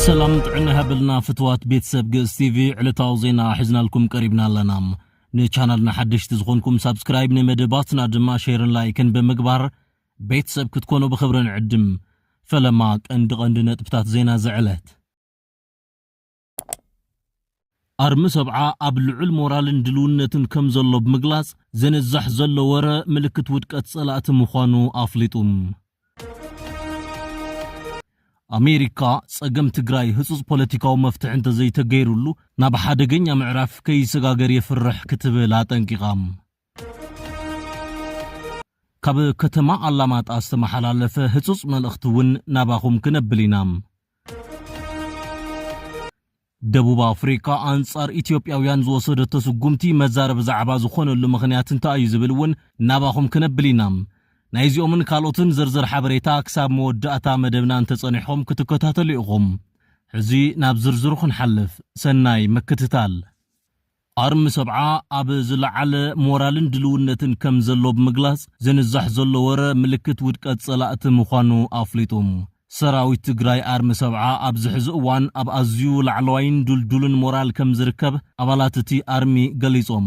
ሰላም ጥዕና ይሃበልና ፍትዋት ቤተሰብ ግእዝ ቲቪ ዕለታዊ ዜና ሒዝናልኩም ቀሪብና ኣለና። ንቻናልና ሓደሽቲ ዝኾንኩም ሳብስክራይብ፣ ንመደባትና ድማ ሼርን ላይክን ብምግባር ቤተሰብ ክትኮኑ ብኽብሪ ንዕድም። ፈለማ ቀንዲ ቀንዲ ነጥብታት ዜና ዝዕለት ኣርሚ ሰብዓ ኣብ ልዑል ሞራልን ድልውነትን ከምዘሎ ብምግላጽ፣ ዝንዛሕ ዘሎ ወረ ምልክት ውድቀት ጸላእቲ ምዃኑ ኣፍሊጡ። ኣሜሪካ፣ ጸገም ትግራይ ህጹጽ ፖለቲካዊ መፍትሒ እንተዘይተገይሩሉ ናብ ሓደገኛ ምዕራፍ ከይሰጋገር የፍርሕ ክትብል ኣጠንቂቓ። ካብ ከተማ ኣላማጣ ዝተመሓላለፈ ህጹጽ መልእኽቲ እውን ናባኹም ክነብል ኢና። ደቡብ ኣፍሪካ ኣንጻር ኢትዮጵያውያን ዝወሰደቶ ስጉምቲ መዛረቢ ዛዕባ ዝኾነሉ ምኽንያት እንታይ እዩ ዝብል እውን ናባኹም ክነብል ኢና። ናይዚኦምን ካልኦትን ዝርዝር ሓበሬታ ክሳብ መወዳእታ መደብና እንተጸኒሕኹም ክትከታተሉ ኢኹም። ሕዚ ናብ ዝርዝሩ ክንሓልፍ። ሰናይ ምክትታል። ኣርሚ ሰብዓ ኣብ ዝለዓለ ሞራልን ድልውነትን ከም ዘሎ ብምግላጽ፣ ዝንዛሕ ዘሎ ወረ ምልክት ውድቀት ጸላእቲ ምዃኑ ኣፍሊጡ። ሰራዊት ትግራይ ኣርሚ ሰብዓ ኣብዚ ሕዚ እዋን ኣብ ኣዝዩ ላዕለዋይን ድልዱልን ሞራል ከም ዝርከብ ኣባላት እቲ ኣርሚ ገሊጾም።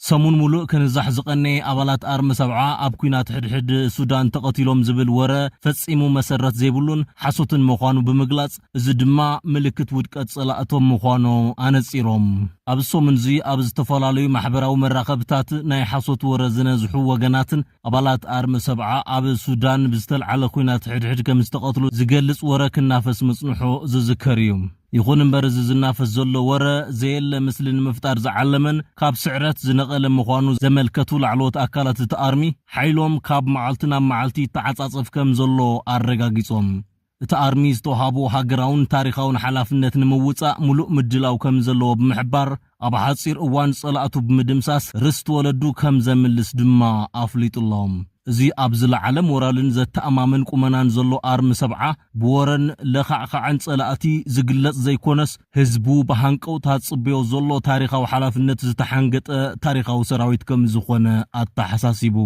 ሰሙን ሙሉእ ክንዛሕ ዝቐነየ ኣባላት ኣርሚ ሰብዓ ኣብ ኲናት ሕድሕድ ሱዳን ተቐቲሎም ዝብል ወረ ፈጺሙ መሰረት ዘይብሉን ሓሶትን ምዃኑ ብምግላጽ፣ እዚ ድማ ምልክት ውድቀት ጸላእቶም ምዃኖ ኣነጺሮም። ኣብዚ ሰሙን'ዚ ኣብ ዝተፈላለዩ ማሕበራዊ መራኸብታት ናይ ሓሶት ወረ ዝነዝሑ ወገናትን ኣባላት ኣርሚ ሰብዓ ኣብ ሱዳን ብዝተልዓለ ኲናት ሕድሕድ ከም ዝተቐትሉ ዝገልጽ ወረ ክናፈስ ምጽንሑ ዝዝከር እዩ። ይኹን እምበር እዚ ዝናፈስ ዘሎ ወረ ዘየለ ምስሊ ንምፍጣር ዝዓለመን ካብ ስዕረት ዝነቐለ ምዃኑ ዘመልከቱ ላዕለዎት ኣካላት እቲ ኣርሚ ሓይሎም ካብ መዓልቲ ናብ መዓልቲ ይተዓጻጸፍ ከም ዘሎ ኣረጋጊጾም። እቲ ኣርሚ ዝተውሃቦ ሃገራውን ታሪኻውን ሓላፍነት ንምውፃእ ሙሉእ ምድላው ከምዘለዎ ብምሕባር፣ ኣብ ሓፂር እዋን ፀላእቱ ብምድምሳስ ርስቲ ወለዱ ከምዘምልስ ድማ ኣፍሊጡ'ሎ። እዚ ኣብ ዝለዓለ ሞራልን ዘተኣማምን ቁመናን ዘሎ ኣርሚ ሰብዓ፣ ብወረን ለኻዕኻዕን ፀላእቲ ዝግለፅ ዘይኮነስ ህዝቡ ብሃንቀውታ ዝፅበዮ ዘሎ ታሪኻዊ ሓላፍነት ዝተሓንገጠ ታሪኻዊ ሰራዊት ከምዝኾነ ኣተሓሳሲቡ።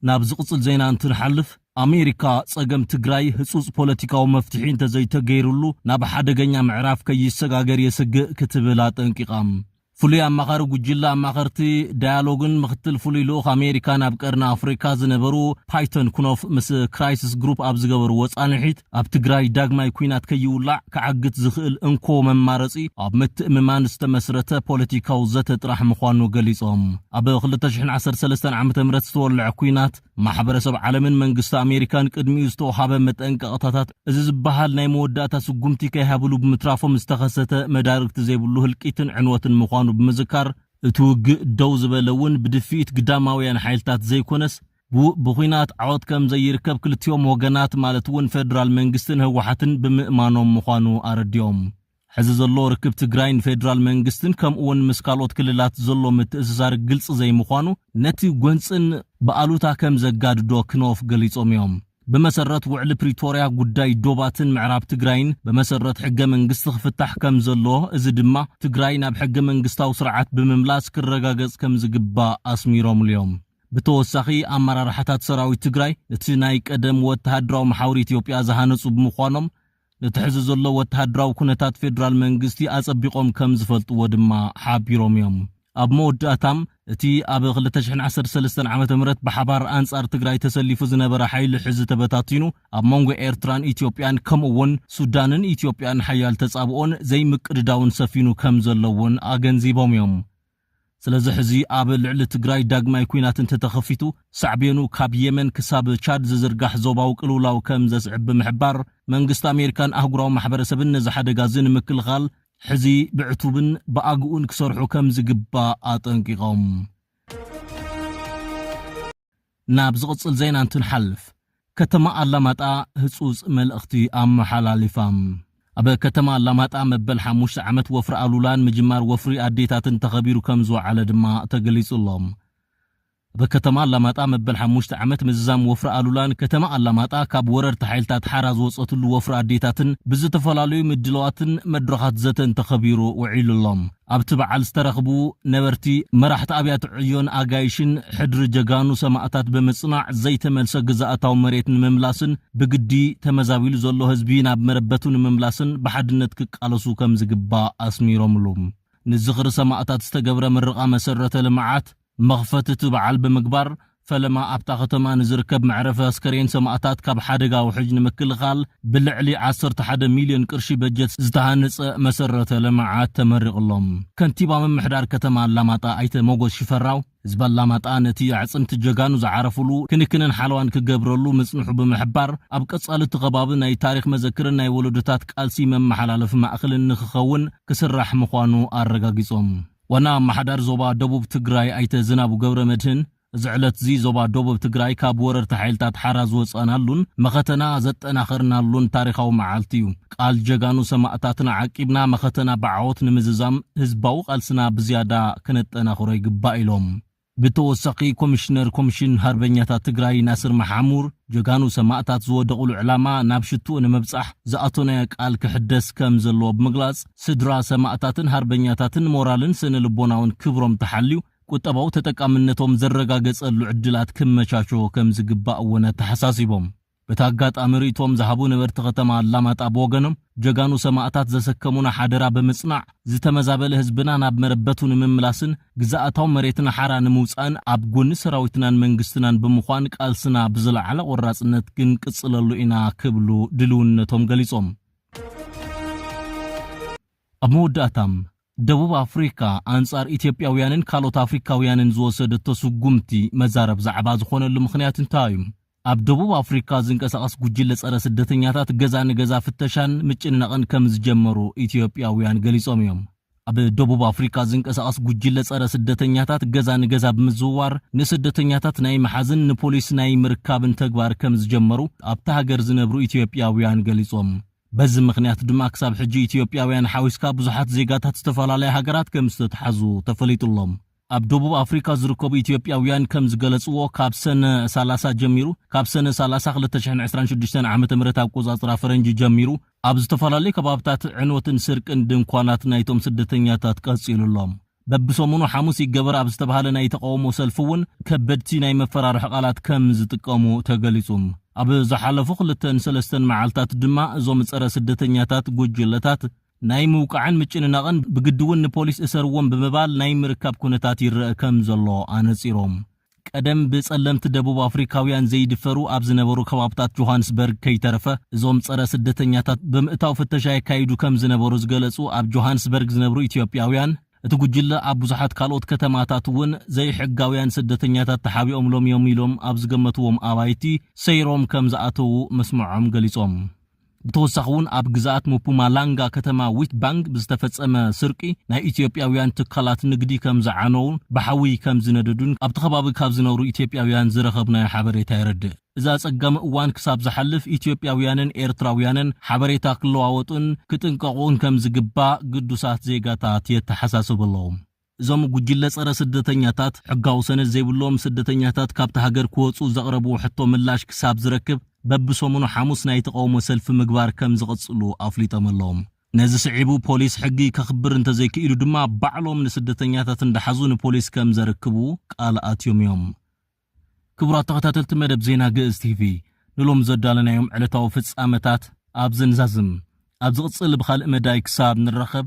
ናብ ዝቕጽል ዜና እንትንሓልፍ፣ ኣሜሪካ ጸገም ትግራይ ህጹጽ ፖለቲካዊ መፍትሒ እንተዘይተገይርሉ ናብ ሓደገኛ ምዕራፍ ከይሰጋገር የስግእ ክትብል ኣጠንቂቓ። ፍሉይ ኣማኻሪ ጉጅለ ኣማኸርቲ ዳያሎግን ምኽትል ፍሉይ ልኡኽ ኣሜሪካ ናብ ቀርኒ ኣፍሪካ ዝነበሩ ፓይቶን ክኖፍ ምስ ክራይስስ ግሩፕ ኣብ ዝገበርዎ ጻንሒት፣ ኣብ ትግራይ ዳግማይ ኲናት ከይውላዕ ክዓግት ዝኽእል እንኮ መማረፂ ኣብ ምትእምማን ዝተመስረተ ፖለቲካዊ ዘተ ጥራሕ ምዃኑ ገሊፆም። ኣብ ክልተ ሽሕን ዓሰርተ ሰለስተን ዓመተ ምህረት ዝተወለዐ ኲናት ማሕበረሰብ ዓለምን መንግስቲ ኣሜሪካን ቅድሚኡ ዝተውሃበ መጠንቀቕታታት እዚ ዝበሃል ናይ መወዳእታ ስጉምቲ ከይሃብሉ ብምትራፎም ዝተኸሰተ መዳርግቲ ዘይብሉ ህልቂትን ዕንወትን ምዃኑ ብምዝካር እቲ ውግእ ደው ዝበለ እውን ብድፍኢት ግዳማውያን ሓይልታት ዘይኮነስ ብኩናት ዓወት ከም ዘይርከብ ክልቲኦም ወገናት ማለት እውን ፌደራል መንግስትን ህወሓትን ብምእማኖም ምዃኑ ኣረዲኦም። ሕዚ ዘሎ ርክብ ትግራይን ፌደራል መንግስትን ከምኡ እውን ምስ ካልኦት ክልላት ዘሎ ምትእስሳር ግልፂ ዘይምዃኑ ነቲ ጎንፅን ብኣሉታ ከም ዘጋድዶ ክኖፍ ገሊፆም እዮም። ብመሰረት ውዕሊ ፕሪቶርያ ጉዳይ ዶባትን ምዕራብ ትግራይን ብመሰረት ሕገ መንግስቲ ክፍታሕ ከም ዘለዎ እዚ ድማ ትግራይ ናብ ሕገ መንግስታዊ ስርዓት ብምምላስ ክረጋገፅ ከም ዝግባእ ኣስሚሮምሉ እዮም። ብተወሳኺ ኣመራርሓታት ሰራዊት ትግራይ እቲ ናይ ቀደም ወተሃደራዊ መሓውር ኢትዮጵያ ዝሃነፁ ብምዃኖም ነቲ ሕዚ ዘሎ ወተሃደራዊ ኩነታት ፌደራል መንግስቲ ኣፀቢቖም ከምዝፈልጥዎ ድማ ሓቢሮም እዮም። ኣብ መወዳእታም እቲ ኣብ ክልተ ሽሕን ዓሰርተ ሰለስተን ዓመተ ምህረት ብሓባር ኣንፃር ትግራይ ተሰሊፉ ዝነበረ ሓይሊ ሕዚ ተበታቲኑ ኣብ መንጎ ኤርትራን ኢትዮጵያን ከምኡ እውን ሱዳንን ኢትዮጵያን ሓያል ተፃብኦን ዘይምቅድዳውን ሰፊኑ ከምዘሎ እውን ኣገንዚቦም እዮም። ስለዚ ሕዚ ኣብ ልዕሊ ትግራይ ዳግማይ ኲናት እንተተኸፊቱ ሳዕቤኑ ካብ የመን ክሳብ ቻድ ዝዝርጋሕ ዞባዊ ቅልውላው ከም ዘስዕብ ብምሕባር፣ መንግስቲ ኣሜሪካን ኣህጉራዊ ማሕበረሰብን ነዚ ሓደጋ እዚ ንምክልኻል ሕዚ ብዕቱብን ብኣግኡን ክሰርሑ ከም ዝግባእ ኣጠንቂቖም። ናብ ዝቕጽል ዜና እንትንሓልፍ፣ ከተማ ኣላማጣ ህጹጽ መልእኽቲ ኣመሓላሊፋ። ኣብ ከተማ ኣላማጣ መበል ሓሙሽተ ዓመት ወፍሪ ኣሉላን ምጅማር ወፍሪ ኣዴታትን ተኸቢሩ ከምዝወዓለ ድማ ተገሊጹ ኣሎ። ኣብ ከተማ ኣላማጣ መበል ሓሙሽተ ዓመት ምዝዛም ወፍሪ ኣሉላን ከተማ ኣላማጣ ካብ ወረርቲ ሓይልታት ሓራ ዝወጸትሉ ወፍሪ ኣዴታትን ብዝተፈላለዩ ምድላዋትን መድረኻት ዘተን ተኸቢሩ ውዒሉ ኣሎ። ኣብቲ በዓል ዝተረኽቡ ነበርቲ፣ መራሕቲ ኣብያተ ዕዮን ኣጋይሽን፣ ሕድሪ ጀጋኑ ሰማእታት ብምጽናዕ ዘይተመልሰ ግዝኣታዊ መሬት ንምምላስን ብግዲ ተመዛቢሉ ዘሎ ህዝቢ ናብ መረበቱ ንምምላስን ብሓድነት ክቃለሱ ከምዝግባእ ኣስሚሮምሉ። ንዝኽሪ ሰማእታት ዝተገብረ ምርቓ መሰረተ ልምዓት፣ ንመኽፈቲ እቲ በዓል ብምግባር፣ ፈለማ ኣብታ ከተማ ንዝርከብ መዕረፊ ኣስከሬን ሰማእታት ካብ ሓደጋ ውሕጅ ንምክልኻል ብልዕሊ ዓሰርተ ሓደ ሚልዮን ቅርሺ በጀት ዝተሃንፀ መሰረተ ልምዓት ተመሪቕሎም። ከንቲባ ምምሕዳር ከተማ ኣላማጣ ኣይተ ሞጎስ ሽፈራው፣ ህዝቢ ኣላማጣ ነቲ ኣዕፅምቲ ጀጋኑ ዝዓረፉሉ ክንክንን ሓለዋን ክገብረሉ ምፅንሑ ብምሕባር፣ ኣብ ቀፃሊ እቲ ከባቢ ናይ ታሪኽ መዘክርን ናይ ወለዶታት ቃልሲ መመሓላለፊ ማእኸልን ንክኸውን ክስራሕ ምዃኑ ኣረጋጊፆም። ዋና ኣማሓዳሪ ዞባ ደቡብ ትግራይ ኣይተ ዝናቡ ገብረመድህን፣ እዚ ዕለት'ዚ ዞባ ዶብ ትግራይ ካብ ወረርቲ ሓይልታት ሓራ ዝወፃእናሉን መኸተና ዘጠናኸርናሉን ታሪኻዊ መዓልቲ ዩ። ቃል ጀጋኑ ሰማእታትና ዓቂብና መኸተና ብዓወት ንምዝዛም ህዝባዊ ቃልስና ብዝያዳ ክነጠናኽሮ ይግባእ ኢሎም። ብተወሳኺ ኮሚሽነር ኮሚሽን ሃርበኛታት ትግራይ ናስር መሓሙር፣ ጀጋኑ ሰማእታት ዝወደቑሉ ዕላማ ናብ ሽትኡ ንምብፃሕ ዝኣቶናዮ ቃል ክሕደስ ከም ዘለዎ ብምግላፅ፣ ስድራ ሰማእታትን ሃርበኛታትን ሞራልን ስነ ልቦናውን ክብሮም ተሓልዩ ቁጠባዊ ተጠቃምነቶም ዝረጋገፀሉ ዕድላት ክመቻቾ ከም ዝግባእ እውን ኣተሓሳሲቦም። በቲ ኣጋጣሚ ርእይቶኦም ዝሃቡ ነበርቲ ከተማ ኣላማጣ ብወገኖም፣ ጀጋኑ ሰማእታት ዘሰከሙና ሓደራ ብምጽናዕ፣ ዝተመዛበለ ህዝብና ናብ መረበቱ ንምምላስን ግዝኣታዊ መሬትና ሓራ ንምውጻእን ኣብ ጎኒ ሰራዊትናን መንግስትናን ብምዃን ቃልስና ብዝለዓለ ቆራጽነት ክንቅጽለሉ ኢና ክብሉ ድልውነቶም ገሊጾም። ኣብ መወዳእታ፣ ደቡብ ኣፍሪካ ኣንፃር ኢትዮጵያውያንን ካልኦት ኣፍሪካውያንን ዝወሰደቶ ስጉምቲ መዛረብ ዛዕባ ዝኾነሉ ምኽንያት እንታይ እዩ? ኣብ ደቡብ ኣፍሪካ ዝንቀሳቐስ ጉጅለ ፀረ ስደተኛታት ገዛ ንገዛ ፍተሻን ምጭንናቕን ከምዝጀመሩ ኢትዮጵያውያን ገሊፆም እዮም። ኣብ ደቡብ ኣፍሪካ ዝንቀሳቐስ ጉጅለ ፀረ ስደተኛታት ገዛ ንገዛ ብምዝውዋር ንስደተኛታት ናይ ምሓዝን ንፖሊስ ናይ ምርካብን ተግባር ከምዝጀመሩ ኣብታ ሃገር ዝነብሩ ኢትዮጵያውያን ገሊፆም። በዚ ምኽንያት ድማ ክሳብ ሕጂ ኢትዮጵያውያን ሓዊስካ ብዙሓት ዜጋታት ዝተፈላለያ ሃገራት ከም ዝተትሓዙ ተፈሊጡ'ሎ። ኣብ ደቡብ ኣፍሪካ ዝርከቡ ኢትዮጵያውያን ከም ዝገለፅዎ ካብ ሰነ ሰላሳ ጀሚሩ፣ ካብ ሰነ ሰላሳ ክልተ ሽሕን ዕስራን ሽዱሽተን ዓመተ ምህረት ኣቆፃፅራ ፈረንጂ ጀሚሩ ኣብ ዝተፈላለዩ ከባብታት ዕንወትን ስርቅን ድንኳናት ናይቶም ስደተኛታት ቀፂሉ'ሎ። በብሰሙኑ ሓሙስ ይገበር ኣብ ዝተብሃለ ናይ ተቓውሞ ሰልፊ እውን ከበድቲ ናይ መፈራርሒ ቃላት ከም ዝጥቀሙ ተገሊፁ። ኣብ ዝሓለፉ ክልተን ሰለስተን መዓልታት ድማ እዞም ፀረ ስደተኛታት ጉጅለታት ናይ ምውቃዕን ምጭንናቕን ብግዲ እውን ንፖሊስ እሰርዎም ብምባል ናይ ምርካብ ኩነታት ይረኣ ከም ዘሎ ኣነፂሮም። ቀደም ብጸለምቲ ደቡብ ኣፍሪካውያን ዘይድፈሩ ኣብ ዝነበሩ ከባብታት ጆሃንስበርግ ከይተረፈ እዞም ጸረ ስደተኛታት ብምእታው ፍተሻ የካይዱ ከም ዝነበሩ ዝገለጹ ኣብ ጆሃንስበርግ ዝነብሩ ኢትዮጵያውያን እቲ ጉጅለ ኣብ ብዙሓት ካልኦት ከተማታት እውን ዘይሕጋውያን ስደተኛታት ተሓቢኦምሎም እዮም ኢሎም ኣብ ዝገመትዎም ኣባይቲ ሰይሮም ከም ዝኣተዉ ምስምዖም ገሊጾም። ብተወሳኺ እውን ኣብ ግዝኣት ሙፑማላንጋ ከተማ ዊትባንግ ብዝተፈፀመ ስርቂ ናይ ኢትዮጵያዊያን ትካላት ንግዲ ከምዝዓነዉን ብሓዊ ከምዝነደዱን ኣብቲ ከባቢ ካብ ዝነብሩ ኢትዮጵያዊያን ዝረኸብናዮ ሓበሬታ የረድእ። እዚ ኣፀጋሚ እዋን ክሳብ ዝሓልፍ ኢትዮጵያዊያንን ኤርትራዊያንን ሓበሬታ ክለዋወጡን ክጥንቀቑን ከምዝግባእ ግዱሳት ዜጋታት የተሓሳስቡ ኣለዉ። እዞም ጉጅለ ጸረ ስደተኛታት፣ ሕጋዊ ሰነድ ዘይብሎም ስደተኛታት ካብታ ሃገር ክወጹ ዘቕረብዎ ሕቶ ምላሽ ክሳብ ዝረክብ፣ በብሰሙኑ ሓሙስ ናይ ተቓውሞ ሰልፊ ምግባር ከም ዝቕጽሉ ኣፍሊጦም ኣሎዉ። ነዚ ስዒቡ ፖሊስ ሕጊ ከኽብር እንተዘይክኢሉ ድማ ባዕሎም ንስደተኛታት እንዳሓዙ ንፖሊስ ከም ዘርክቡ ቃል ኣትዮም እዮም። ክቡራት ተኸታተልቲ መደብ ዜና ግእዝ ቲቪ፣ ንሎሚ ዘዳለናዮም ዕለታዊ ፍጻመታት ኣብዚ ንዛዝም። ኣብ ዝቕጽል ብኻልእ መዳይ ክሳብ ንራኸብ፣